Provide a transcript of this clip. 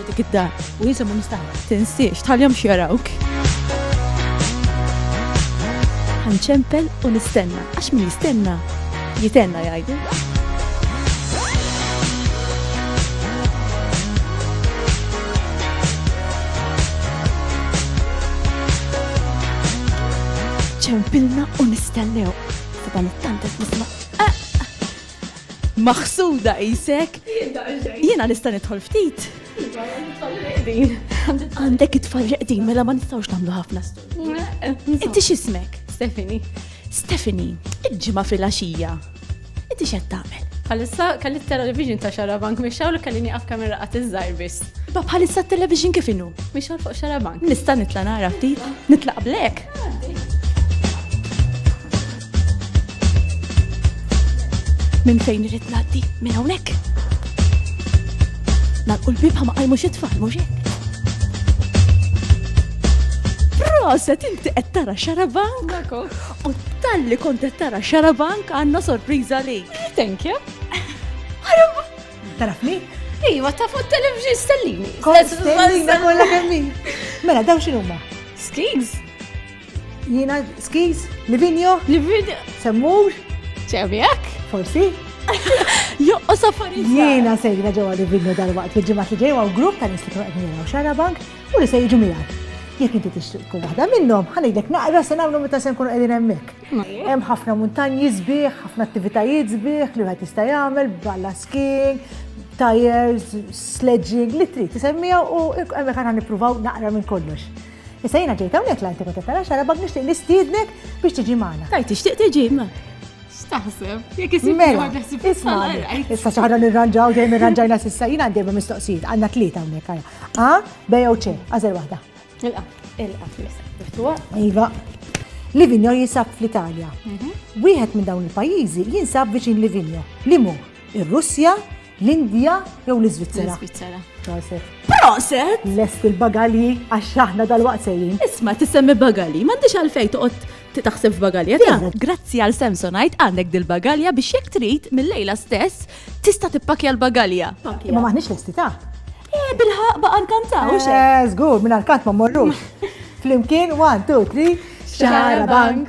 u dik id-dar u jisimhom mistagħna. Tinsiex tħallihom x'jarawk. Ħanċempel u nistenna għax min jistenna jitenna jgħidu. ċempilna u nistennew. Taban it-tanta nisma. Maħsuda qisek. Jiena nista' nidħol ftit. Għandek it-tfal reqdin mela ma nistgħux nagħmlu ħafna. Inti x'ismek? Stephanie. Stephanie, il-ġimgħa fil-għaxija. Inti x'qed tagħmel? Bħalissa kelli t-television ta' xarabank mixxaw li kelli nieqaf kamera qatt iż-żgħir biss. Ba bħalissa t-television kif inhu? Mixxaw fuq xarabank. Nista' nitla' nara ftit, nitlaq blek. Minn fejn irid ngħaddi? Minn hawnhekk? Nagħlqu l-bib ma qajmu xi tfal mhux hekk. Proset inti qed tara xarabank? U talli kont qed tara xarabank għandna sorpriża li. Thank you. Taraf li? Iva, ta' fuq televġi stellini. Stellina kollha kemm Mela daw x'inhuma? Skis? Jiena skiz, Livinjo, Livinjo, Semmur, Ċemjak, forsi. Joqqos affarijiet. Jiena sejra ġewwa Livinjo dal-waqt fil-ġimgħat li ġejwa u grupp ta' nies li qed nilgħu xara bank u li se jiġu miegħek. Jekk inti tixtieq tkun waħda minnhom, ħanidek naqra se nagħmlu meta se nkunu qegħdin hemmhekk. Hemm ħafna muntanji sbieħ, ħafna attivitajiet sbieħ li wieħed jista' jagħmel, balla skiing, tires, sledging, li trid tisemmiha u hemmhekk aħna nippruvaw naqra minn kollox. Issa jiena ġejt hawnhekk l-Antiku Tefera xarabak nixtieq nistiednek biex tiġi magħna. Tajt tixtieq tiġi ma. Staħseb, jekk isib mela, Issa xaħna nirranġaw dejjem irranġajna sissa jiena għandejma mistoqsijiet għandna tlieta hawnhekk għal. A, B jew C, għażel waħda. Ilqa, ilqa, miftuħa. Iva. Livinjo jinsab fl-Italja. Mhm. Wieħed minn dawn il-pajjiżi jinsab viċin Livinjo. Limu, ir-Russja, L-Indja jew l-Iżvizzera? L-Iżvizzera. Proset. Proset! Lest il-bagalji għax aħna dal-waqt sejjin. Isma' tisemmi bagalji, m'għandix għalfejn toqgħod titaħseb f'bagalja ta' grazzi għal Samsonite għandek dil-bagalja biex jekk trid mill-lejla stess tista' tippakja l-bagalja. Ma maħniex lesti ta' Eh, bilħaq baqa nkantaw, xe? Eh, zgur, minn għal-kant ma morrux. Flimkien, 1, 2, 3, xarabank.